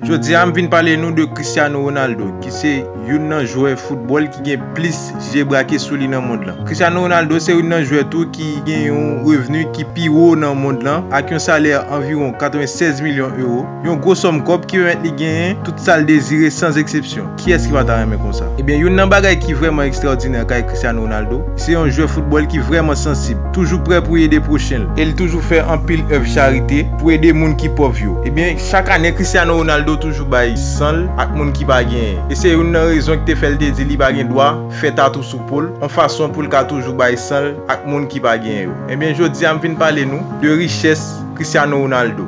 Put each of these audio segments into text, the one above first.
Jodi a m vin pale nou de Cristiano Ronaldo ki se youn nan jwè foutbòl ki gen plis je brake sou li nan mond lan. Cristiano Ronaldo se youn nan jwè tou ki gen yon revni ki pi wo nan mond lan ak yon salè anviwon 96 milyon ewo, yon gwo sòm kòb ki pèmèt li genyen tout sa l dezire san zeksepsyon. Kiyès ki pa ta renmen konsa? Ebyen youn nan bagay ki vrèman ekstraòdinè kay Cristiano Ronaldo, li se yon jwè foutbòl ki vrèman sansib, toujou prè pou ede pwochen l, e li toujou fè anpil èv charite pou ede moun ki pòv yo. Ebyen chak ane Cristiano Ronaldo toujou bay san l ak moun ki pa genyen, e se youn nan rezon ki te fè l te di li pa gen dwa fè tatou sou po l, yon fason pou l ka toujou bay san l ak moun ki pa genyen yo. Ebyen jodi a m vin pale nou de richès Cristiano Ronaldo.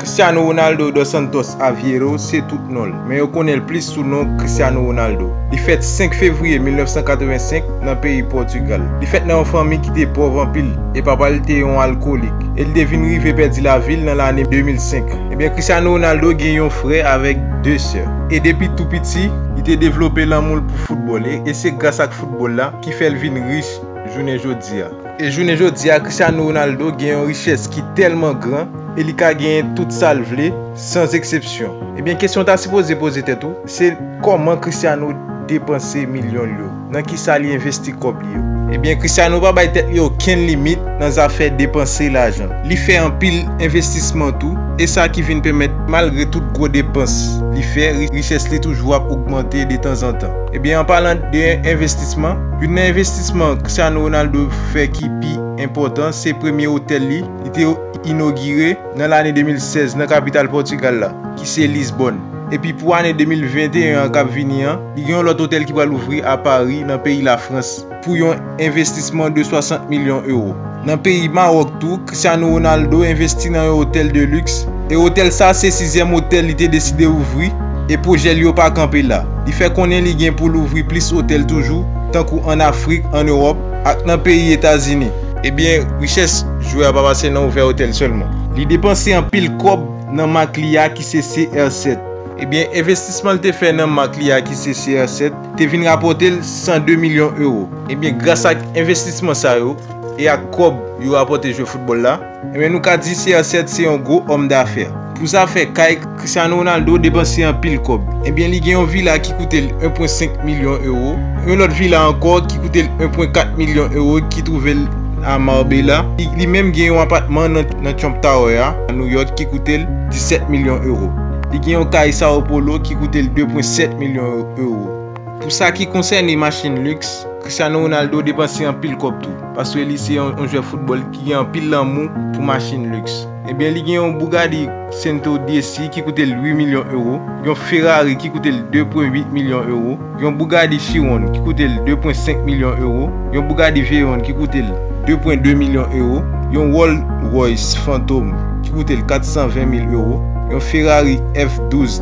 Cristiano Ronaldo dos Santos Aveiro se tout non l, men yo konnen l plis sou non Cristiano Ronaldo. Li fèt 5 fevriye 1985 nan peyi Pòtugal. Li fèt nan yon fanmi ki te pòv anpil e papa l te yon alkolik e li te vin rive pèdi lavi l nan lane 2005. Ebyen Cristiano Ronaldo gen yon frè avèk 2 sè e depi tou piti li te devlope lanmou l pou foutbòl e se gras ak foutbòl la ki fè l vin rich jounen jodi a. E jounen jodi a Cristiano Ronaldo gen yon richès ki tèlman gran e li ka genyen tout sa l vle san zeksepsyon. Ebyen kesyon w ta sipoze poze tèt ou se kòman Cristiano depanse milyon l yo? Nan kisa li envesti kòb li yo? Ebyen Cristiano pa bay tèt li okenn limit nan zafè depanse lajan. Li fè anpil envestisman tou e sa ki vin pèmèt malgre tout gwo depans li fè richès li toujou ap ogmante detanzantan. Ebyen an palan de envestisman, youn nan envestisman Cristiano Ronaldo fè ki pi enpòtan se premye otèl li, li te inogire nan lane 2016 nan kapital Pòtigal la ki se Lisbòn. Epi pou ane 2021 an kap vini an, li gen yon lòt otèl ki pral ouvri a Pari nan peyi Lafrans. pou yon envestisman de 60 milyon ewo. Nan peyi Mawòk tou, Cristiano Ronaldo envesti nan yon otèl de liks, e otèl sa se sizyèm otèl li te deside ouvri, e pwojè li yo pa kanpe la. Li fè konnen li gen pou l ouvri plis otèl toujou, tankou ann Afrik, ann Ewòp, ak nan peyi Etazini. Ebyen, richès jwè a pa pase nan ouvè otèl sèlman. Li depanse anpil kòb nan mak li a ki se CR7. Ebyen, envestisman li te fè nan mak li a ki se CR7, te vin rapòte l 102 milyon ewo. Ebyen gras ak envestisman sa yo e ak kòb yo rapòte jwe foutbòl la, ebyen nou ka di CR7 se yon gwo òm dafè. Pou zafè kay, Cristiano Ronaldo depanse anpil kòb. Ebyen li gen yon vila ki koute l 1 pwen 5 milyon ewo, yon lòt vila ankò ki koute l 1 pwen 4 milyon ewo ki twouve l a Marbella. Li menm gen yon apatman nan Trump Tower a New York ki koute l 17 milyon ewo. Li gen yon kay Sao Paulo ki koute l 2 pwen 7 milyon ewo. Pou sa ki konsène machin liks, Cristiano Ronaldo depanse anpil kòb tou, paske li se yon jwè foutbòl ki gen anpil lanmou pou machin liks. Ebyen li gen yon Bugatti Cento Dieci ki koute l 8 milyon ewo, yon Ferrari ki koute l 2.8 milyon ewo, yon Bugatti Chiron ki koute l 2.5 milyon ewo, yon Bugatti Veyron ki koute l 2.2 milyon ewo, yon Rolls Royce Phantom ki koute l 420 mil ewo, yon Ferrari F12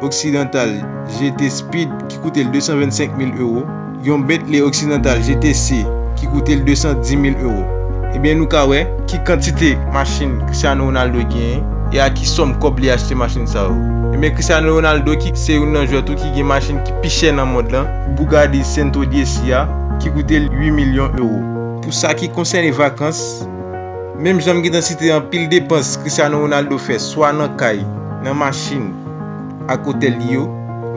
Occidental GT Speed ki koute l 225 mil ewo, yon Bentley Occidental GTC ki koute l 210 mil ewo. Ebyen nou ka wè ki kantite machin Cristiano Ronaldo genyen e a ki sòm kòb li achte machin sa yo. Ebyen Cristiano Ronaldo ki se youn nan jwè tou ki gen machin ki pi chè nan mond lan, Bugatti Sento DC a ki koute l 8 milyon ewo. Pou sa ki konsène vakans, menm jan m gentan site anpil depans Cristiano Ronaldo fè swa nan kay, nan machin, ak otèl li yo,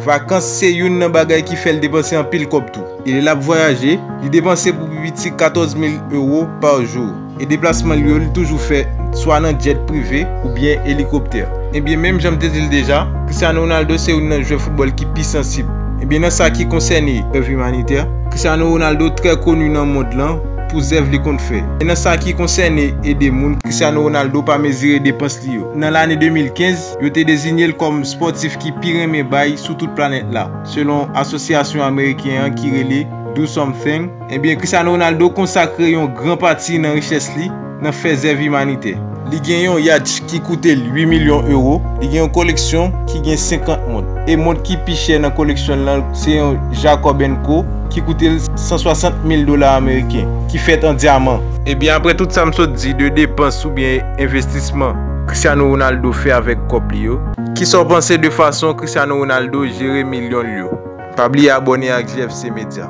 vakans se youn nan bagay ki fè l depanse anpil kòb tou. E lè l ap vwayaje, li depanse pou pi piti 14 mil ewo pa jou. E deplasman l yo li toujou fè swa nan djèt prive oubyen elikoptè. Ebyen menm jan m te di l deja, Cristiano Ronaldo se youn nan jwè foutbòl ki pi sansib. Ebyen nan sa ki konsène zèv imanitè, Cristiano Ronaldo trè koni nan mond lan pou zèv li konn fè. Men nan sa ki konsène ede moun, Cristiano Ronaldo pa mezire depans li yo. Nan lane 2015, Yo te dezinye l kòm spòtif ki pi renmen bay sou tout planèt la, selon asosyasyon ameriken an ki rele Do Something. Ebyen, Cristiano Ronaldo konsakre yon gran pati nan richès li nan fè zèv imanitè. Li gen yon yacht ki koute l 8 milyon ewo, li gen yon koleksyon ki gen 50 mont, e mont ki pi chè nan koleksyon l lan se yon Jacob and Co ki koute l 160 mil dola ameriken, ki fèt an dyaman. Ebyen, aprè tout sa m sot di de depans oubyen envestisman Cristiano Ronaldo fè avèk kòb li yo? Kisa w panse de fason Cristiano Ronaldo jere milyon l yo? Pa bliye abòne ak JFC Media.